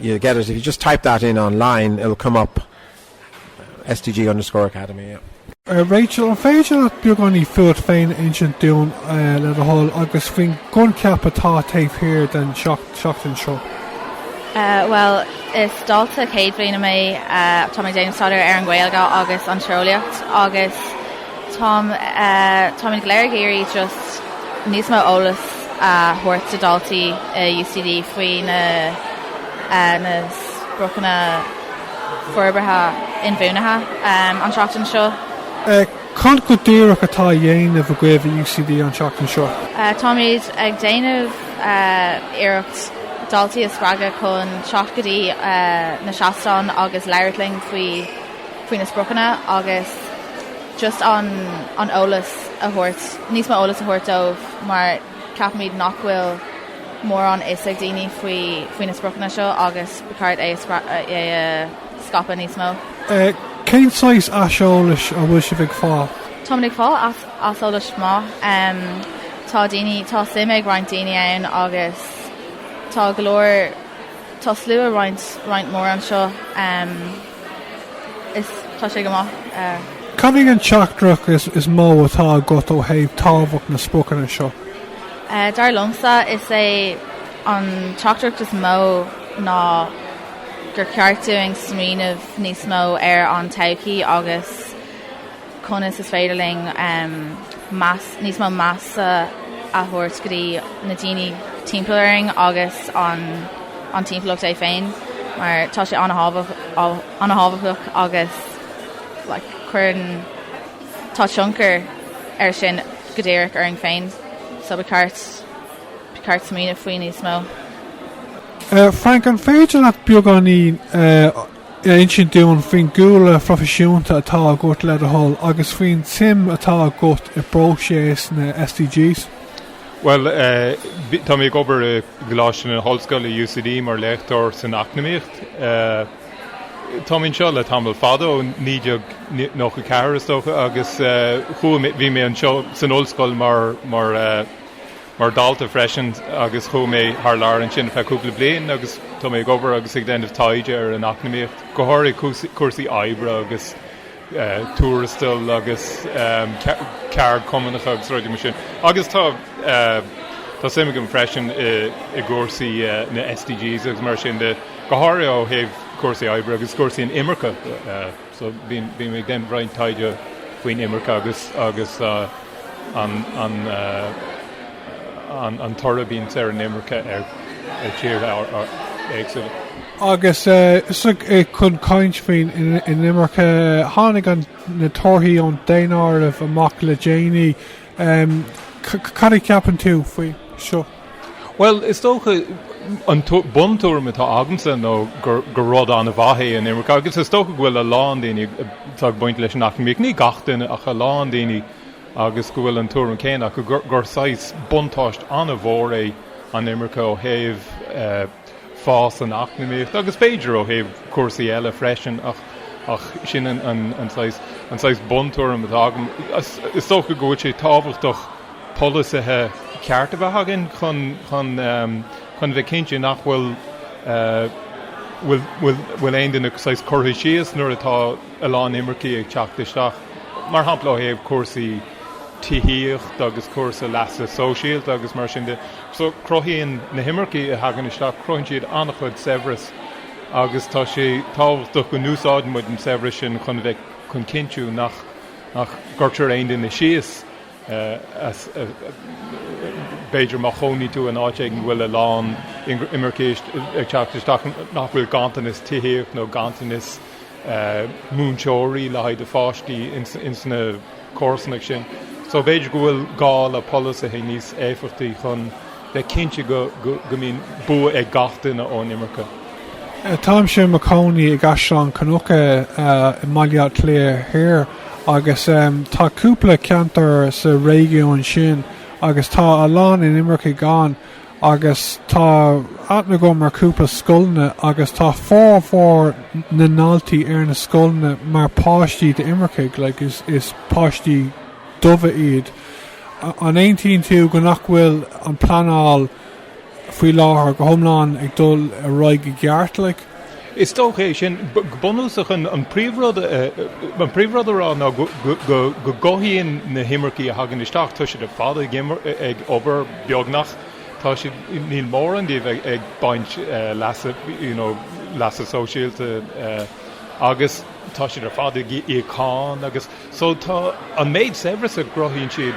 You get it if you just type that in online, it'll come up sdg underscore academy. Rachel, an féidir leat beagáinín fút féin a insint dúinn le do thoil agus faoin gcoincheap atá taobh thiar den seachtain seo? Bhuel, is dalta céad bliana mé, tá mé ag déanamh staidéar ar an nGaeilge agus an tíreolaíocht agus, Tá, táimid go léir ag iarraidh just níos mó eolas a thabhairt do dhaltaí i UCD faoi na, na spriocanna forbartha inbhuanaithe an tseachtain seo. Cad go díreach atá á dhéanamh agaibh i UCD an tseachtain seo? Táimid ag déanamh iarracht daltaí a spreagadh chun teacht go dtí na seastáin agus labhairt linn faoi. faoi na spriocanna agus just an an eolas a thabhairt, níos mó eolas a thabhairt dóibh mar ceapaimid nach bhfuil mórán a fhios ag daoine faoi faoi na spriocanna seo agus ba cheart é a scra é a scaipeadh níos mó. Cén saghas aiseolais a bhfuil sibh ag fáil? Táimid ag fáil as aiseolas maith. Tá daoine, tá suim ag roinnt daoine ann agus tá go leor, tá slua roinnt roinnt mór anseo. is tá sé go maith. Cad é an teachtaireacht is mó atá agat ó thaobh tábhacht na spriocanna seo? Dar liomsa is é an teachtaireacht is mó ná gur cheart dúinn smaoineamh níos mó ar an todhchaí agus, Conas is féidir linn níos mó measa a thabhairt go dtí na daoine timpeall orainn agus an timpeallacht é féin, mar tá sé an-tábhachtach agus cuireann, tá tionchar ar sin go díreach orainn féin, so ba cheart smaoineamh faoi níos mó. Frank, an féidir leat beagáinín a. insint dúinn faoin gcúlra phroifisiúnta atá agat le do thoil agus faoin tsuim atá agat i bpróiseas na SDGs. Bhuel, tá mé ag obair i gColáiste na hOllscoile, UCD, mar léachtóir san eacnamaíocht. Táim anseo le tamall fada, ó naoi déag nócha a ceathair, is dócha, agus chuaigh mé, bhí mé anseo san ollscoil mar, mar, mar dalta freisin agus chuaigh mé thar lear ansin ar feadh cúpla bliain agus tá mé ag obair agus ag déanamh taighde ar an eacnamaíocht, go háirithe cúrsaí oibre agus tuarastail agus ceardchumannacha agus rudaí mar sin agus tá suim agam freisin i gcúrsaí na SDGs agus mar sin de, go háirithe ó thaobh cúrsaí oibre agus cúrsaí an imirce. So bíonn bíonn mé ag déanamh roinnt taighde faoin imirce agus agus an an an an toradh a bhíonns ar an imirce ar ar tíortha éagsúla. Agus is chun caint faoin inimirce a tháinig na torthaí ón daonáireamh amach le déanaí. Cad a cheapann tú faoi seo? Bhuel, is dócha, an buntuairim atá agamsa ná gur rud an-mhaith é an imirce agus is dócha go bhfuil a lán daoine atá ag baint leis an eacnamaíocht, ní gach duine ach a lán daoine, agus go bhfuil an tuairim céanna acu gur saghas buntáiste an-mhór é an imirce ó thaobh, fás an eacnamaíochta agus b'fhéidir ó thaobh cúrsaí eile freisin ach ach sin an an saghas an saghas buntuairim atá agam. Is dócha go bhfuil sé tábhachtach polasaithe cearta a bheith againn chun chun chun a bheith cinnte nach bhfuil bhfuil bhfuil bhfuil aon duine saghas curtha síos nuair atá a lán imircigh ag teacht isteach mar shampla ó thaobh cúrsaí tithíochta agus cúrsaí leasa sóisialta agus mar sin de. So, cruthaíonn na himircigh a thagann isteach, cruthaíonn siad an-chuid saibhreas agus tá sé tábhachtach go n-úsáideann muid an saibhreas sin chun bheith, chun cinntiú nach, nach gcuirtear aon duine síos as, b'fhéidir má chónaíonn tú in áit a bhfuil a lán imircigh ag teacht isteach nach bhfuil ganntanas tithíochta nó ganntanas, múinteoirí le haghaidh do pháistí ins na comharsanachtaí sin. So b'fhéidir go bhfuil gá le polasaithe níos éifeachtaí chun bheith cinnte go mbíonn bua ag gach duine ón imirce. Táimse i mo chónaí i gCaisleán Cnucha i mBaile Átha Cliath Thiar agus tá cúpla ceantar sa réigiún sin agus tá a lán inimircigh ann. agus tá aithne agam ar chúpla scoileanna agus tá formhór na ndaltaí ar na scoileanna mar páistí d'imircigh, like, is, is páistí dubha iad. An aontaíonn tú go nach bhfuil an pleanáil faoi láthair go hiomlán ag dul ar aghaidh i gceart, like? Is dócha é sin. Go bunúsach, an príomhrud a rá ná go gcruthaíonn na himircigh a thagann isteach, tá siad ar fad ag obair, beagnach, tá siad, níl mórán díobh ag baint leasa sóisialta agus tá siad ar fad ag íoc cáin agus so tá an méid saibhreas a gcruthaíonn siad,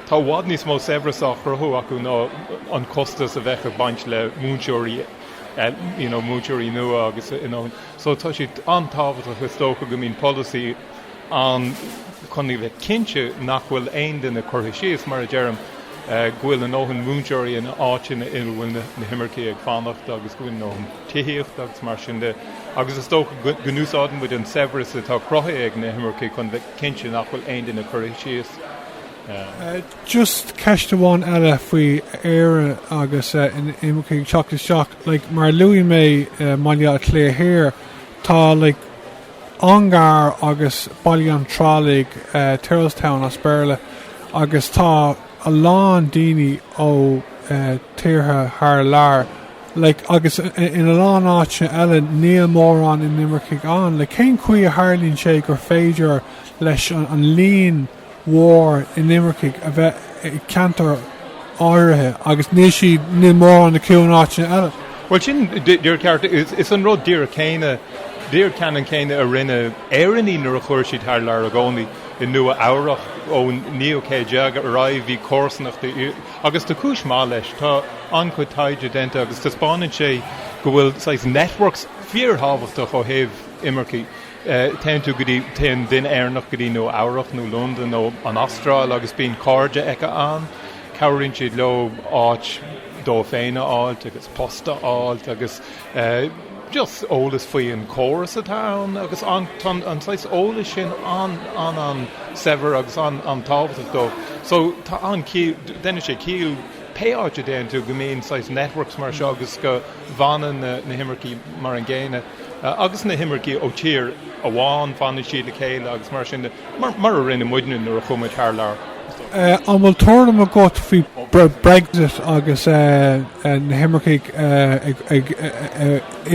tá i bhfad níos mó saibhreas á chruthú acu ná an costas a bheadh ag baint le múinteoirí you know, múinteoirí nua agus you know, so tá siad an-tábhachtach is dócha go mbíonn polasaí ann chun a bheith cinnte nach bhfuil aon duine curtha síos, mar a deirim, eh, go bhfuil a ndóthain múinteoirí in áiteanna ina bhfuil na, na himircigh ag fanacht agus go bhfuil a ndóthain tithíochta agus mar sin de agus is dócha go, go n-úsáideann muid an saibhreas atá cruthaithe ag na himircigh chun a bheith cinnte nach bhfuil aon duine curtha síos. Just ceist amháin eile faoi Éire agus inimircigh ag teacht isteach. Like mar a luaigh mé i mBaile Átha Cliath Thoir tá like Ongar agus Baile an Tirialaigh, Tyrrelstown as Béarla, agus tá a lán daoine ó tíortha thar lear. Like agus in a lán áiteanna eile níl mórán inimircigh ann. Like cén chaoi a tharlaíonn sé gur féidir leis an líon mhór inimircigh a bheith i gceantair áirithe agus níl siad, níl mórán acu in áiteanna eile. Bhuel sin, díreach, is an rud díreach céanna, díreach ceannann céanna a rinne Éireannaigh nuair a chuaigh siad thar lear ina gcónaí i Nua Eabhrach ón naoú céad déag ar aghaidh, bhí comharsanachtaí, agus tá cúis maith leis, tá an-chuid taighde déanta agus taispeánann sé go bhfuil saghas networks fíor-thábhachtach ó thaobh imircigh. Téann tú go dtí, téann duine Éireannach go dtí Nua Eabhrach nó Londain nó an Astráil agus bíonn cairde acu ann. Cabhraíonn siad leo áit dóibh féin a fháilt agus post a fháilt agus just eolas faoi an córas atá ann agus an, tá an saghas eolais sin an, an, an-saibhir agus an, an-tábhachtach dóibh. So tá an, déanann sé ciall pé áit a dtéann tú go mbíonn saghas networks mar seo agus go bhfanann na, na himircigh mar an gcéanna. agus na himircigh ó thír amháin, fanann siad le chéile agus mar sin de, mar a rinne muidne nuair a chuaigh muid thar lear. An bhfuil tuairim agat faoi Brexit agus na himircigh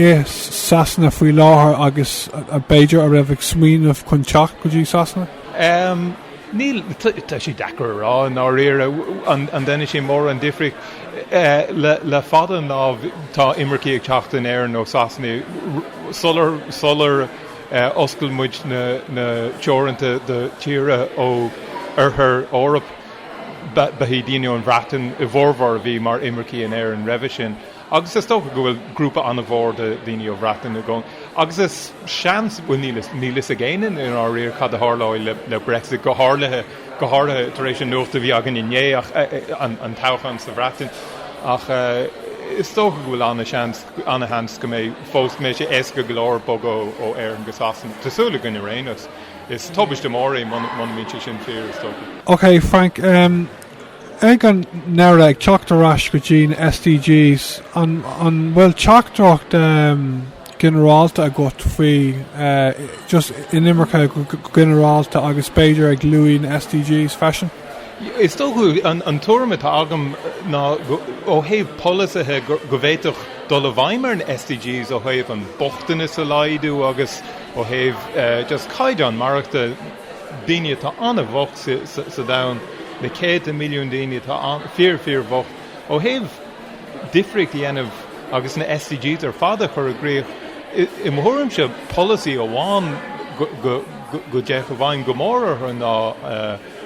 i Sasana faoi láthair agus b'fhéidir a raibh ag smaoineamh chun teacht go dtí Sasana? Níl. Tá sé deacair a rá, i ndáiríre, an ndéanann sé mórán difríochta. Le fada an lá tá imircigh ag teacht in Éirinn ó Sasana sular oscail muid na teoranta do thíortha ó Oirthear Eoraip. Ba iad daoine ón Bhreatain a bhformhór a bhí mar imircigh in Éirinn roimhe sin. agus is dócha go bhfuil grúpa an-mhór de dhaoine ó Bhreatain i gcónaí, agus is seans, bhuel níl fhios, níl fhios ag éinne i ndáiríre cad a tharlóidh le, le Brexit, go háirlithe, go háirlithe tar éis an nuacht a bhí againn inné, ach, an, an toghchán sa Bhreatain, ach is dócha go bhfuil an-seans, an-sheans go mbeidh fós, go mbeidh sé éasca go leor bogadh ó, ó Éirinn go Sasana. Tá súil againn ar aon nós, is tubaiste mór é muna, muna mbíonn sé sin fíor, is dócha. Ok, Frank, umm, Ag an deireadh, ag teacht ar ais go dtí na SDGs, an bhfuil teachtaireacht ghinearálta agat faoi just inimirce go ginearálta agus b'fhéidir ag lua na SDGs freisin? Is dócha an tuairim atá agam ná ó thaobh polasaithe go bhféadfadh dul i bhfeidhm ar na SDGs ó thaobh an bochtanas a laghdú agus ó thaobh just caighdeán maireachtála, daoine atá an-bhocht sa domhan, na céadta milliún daoine atá fíor, fíor bhocht ó thaobh difríocht a dhéanamh agus na SDGs ar fad a chur i gcrích. I mo thuairimse, polasaí amháin go dtéadh i bhfeidhm go mór orthu ná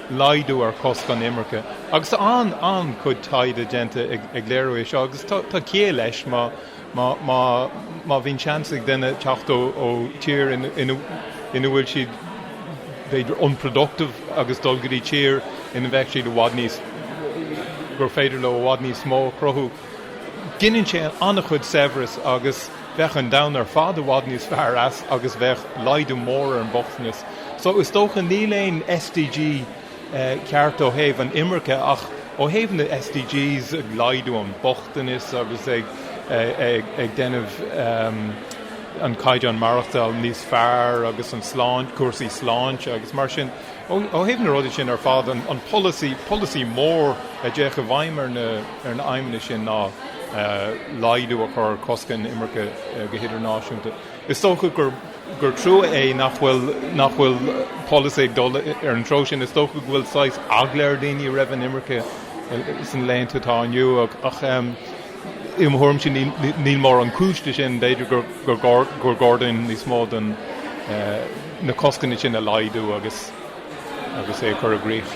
laghdú ar choscanna imirce. Agus tá an-chuid taighde déanta ag léiriú é seo agus tá ciall leis má. má, má, má bhíonn seans ag duine teacht ó, ó tír ina, ina, ina bhfuil siad b'fhéidir unproductive agus dul go dtí tír ina bheadh siad i bhfad níos, gur féidir leo i bhfad níos mó a chruthú, gineann sé an-chuid saibhreas agus bheadh an domhan ar fad i bhfad níos fearr as agus bheadh laghdú mór ar an mbochtanas. So is dócha, níl aon SDG. ceart ó thaobh an imirce ach ó thaobh na SDGs, ag laghdú an bochtanas agus ag déanamh an caighdeán maireachtála níos fearr agus an sláinte, cúrsaí sláinte agus mar sin. Ó thaobh na rudaí sin ar fad, an polasaí, polasaí mór a dtéadh i bhfeidhm ar na aidhmeanna sin ná laghdú a chur, coscanna imirce go hidirnáisiúnta. Is dócha gur trua é nach bhfuil nach bhfuil polasaí ag dul ar an treo sin. Is dócha go bhfuil saghas eagla ar dhaoine roimh an imirce sna laethanta atá inniu ach i mo thuairimse níl mórán cúis leis sin, b'fhéidir gur gá dúinn níos mó de na coscanna sin a laghdú agus agus é a chur i gcrích.